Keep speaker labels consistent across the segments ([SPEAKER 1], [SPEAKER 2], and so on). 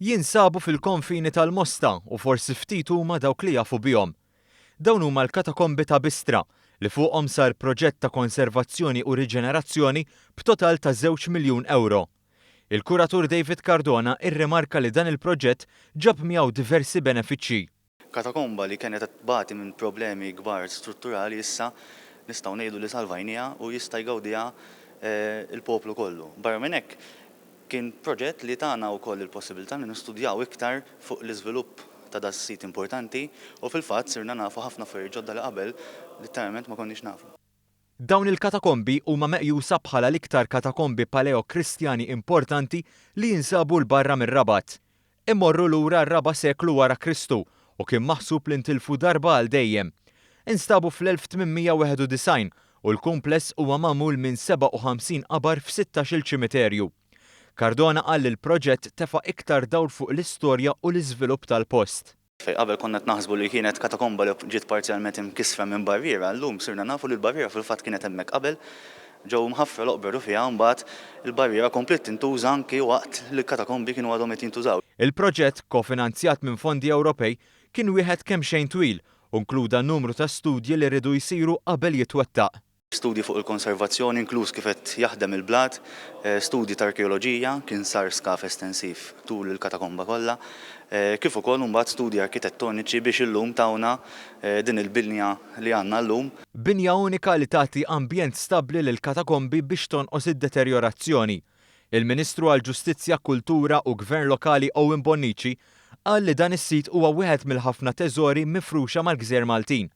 [SPEAKER 1] Jinsabu fil-konfini tal-Mosta u forsi ftit huma dawk li jafu bihom. Dawn huma l-Katakombi ta' Bistra li fuqhom sar proġett ta' konservazzjoni u riġenerazzjoni b'total ta' żewġ miljun ewro. Il-kuratur David Cardona rrimarka li dan il-proġett ġab miegħu diversi benefiċċji. Katakomba li
[SPEAKER 2] kienet qed tbati minn problemi kbar strutturali issa nistgħu ngħidu li salvajnieha u jista' jgawdiha l-poplu kollu. Barra minn hekk, kien proġett li tana wkoll il-possibilità li nistudjaw iktar fuq l-iżvilupp ta' da' sit importanti u fil-fatt sirna nafu ħafna affarijiet ġodda li qabel litteralment ma konniex nafu. Dawn
[SPEAKER 1] il-katakombi huma meqjusa bħala l-iktar katakombi Paleo-Kristjani importanti li jinsabu 'l barra mir-Rabat. Imorru lura r-raba' seklu wara Kristu u kien maħsub li ntilfu darba għal dejjem. Instabu fl-1891 u l-kumpless huwa magħmul minn 57 qabar f'sittax-il ċimiterju. Cardona qal li l-proġett tefa' iktar dawl fuq l-istorja u l-iżvilupp tal-post. Fejn qabel konna qed
[SPEAKER 2] naħsbu li kienet katakomba li ġiet parzjalment imkissra minn barriera, llum sirna nafu li l-barriera fil-fatt kienet hemmhekk qabel. Ġew mħaffra l-oqbra Rufiegħa u mbagħad il-barriera kompliet tintuża anki waqt li l-katakombi kienu għadhom qed jintużaw. Il-proġett,
[SPEAKER 1] kofinanzjat minn fondi Ewropej, kien wieħed kemxejn twil u nkluda numru ta' studji li riedu jsiru qabel jitwettaq. Studji fuq
[SPEAKER 2] il-konservazzjoni, inkluż kif qed jaħdem il-blat, studji ta' arkeoloġija, kien sar skav estensiv tul il-katakomba kollha, kif ukoll imbagħad studji arkitettoniċi biex illum tawna din il-binja li għandna llum. Binja unika li
[SPEAKER 1] tagħti ambjent stabbli lill-katakombi biex tonqos id-deterjorazzjoni. Il-Ministru għall-Ġustizzja, Kultura u Gvern Lokali Owen Bonnici qal li dan is-sit huwa wieħed mill-ħafna teżori mifruxa mal-gżejjer Maltin.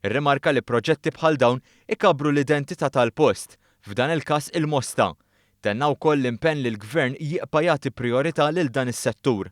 [SPEAKER 1] Irrimarka li proġetti bħal dawn ikabbru l-identità tal-post, f'dan il-każ il-Mosta. Tenna wkoll l-impenn li l-Gvern jibqa' jagħti prijorità lil dan is-settur.